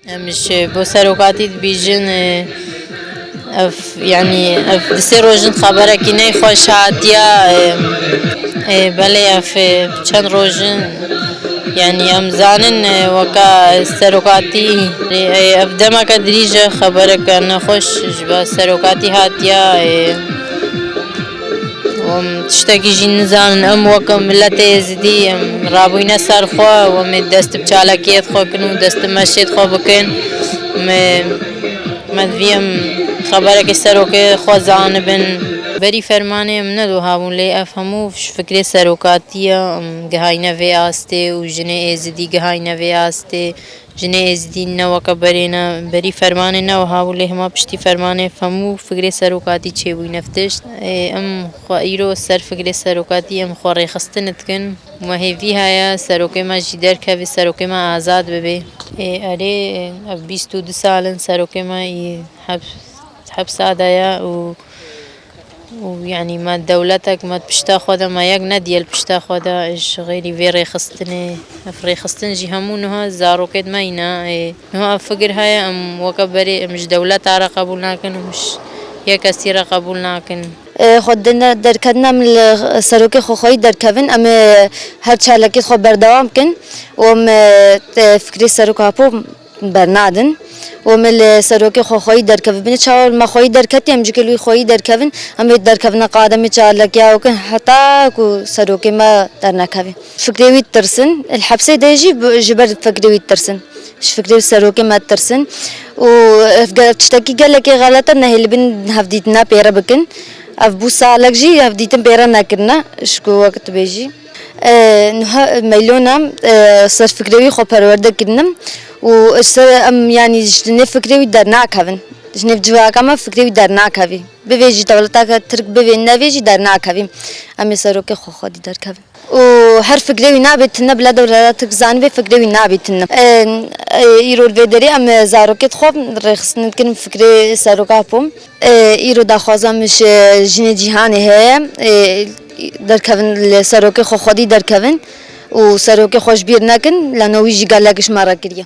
Em ji bo serokatî dibîjin ev yanî ev di sê rojin xeberekî ney xweş hatiye belê ev çend rojin yanî em zanin weke serokatî ev demeke dirîj e xebereke nexweş ji bo serokatî hatiye. Tiştekî jî nizanin em weke miletê Êzidî em rabûyne ser xwe û em ê dest bi çalakiyê xwe kin û dest bi meşê xwe bikin. Me divî em xeberekê serokê xwe zanibin. Berî fermanê em ne wiha bû lê ev hemû ji fikrê serokatî ye. Em gihayne vê astê û jinê Êzidî gihayne vê astê. Jinê Êzidî ne weke berê ne berî fermanê ne wiha bû lê hema piştî fermanê hemû fikrê serokatî çêbûyî ne tişt. Em xwe îro ser fikrê serokatî em xwe rêxistinê dikin. Me hêvî heye serokê me jî derkeve, serokê me azad bibe. Erê ev bîst û du sal in serokê me yê hepsa de ye û. û yanî me dewletek me di pişta xwe de me yek nedîye li pişta xwe de ji xêrî vê rêxistinê ev rêxistin jî hemû niha zarokên me î ne ê niha ev fikir heye em weke berê em ji dewleta re qebûl nakin em ji yek kesî re qebûl nakin. Xwe dina derketina em li serokê xwe xweyî derkevin em ê her çalakî xwe berdewam bikin û em fikirê serok Apo Bernadin û me li serokê xwe xweyî derkevibîne çawa me xweyî derketiye em jikê li wî xweyî derkevin em ê derkevina qademê çalakîya û kin heta ku serokê me dernekeve fikrê wî ditirsin li hepsê de jî ji ber fikrê wî ditirsin ji fikrê serokê me ditirsin û ev tiştekî gelekî xelet e nehê li bin hevdîtina pêre bikin ev bû salek jî hevdîtin pêre nekirine ji ku wek dibêjî. Nuha meylon e, serfikrê wî xwe perwerde kirine û ji ser em yanî ji nêv fikrê wî dernakevin. Ji nêv civaka me fikrê wî dernakevî. Bivê jî dewleteke tirk bivê nevê jî dernakevî. Em ê serokê xwe xwedî derkevin. Û her fikrê wî nabê tune bila dewleta tirk zanibê fikrê wî nabê tune. Îro li vê derê em zarokê dixwin rêxistin dikin fikrê seroka Apo. Îro daxwaza min ji jinê cîhanê heye derkevin li serokê xwe xwedî derkevin û serokê xwe ji bîr nekin lano wî jî gelek ji me re kiriye.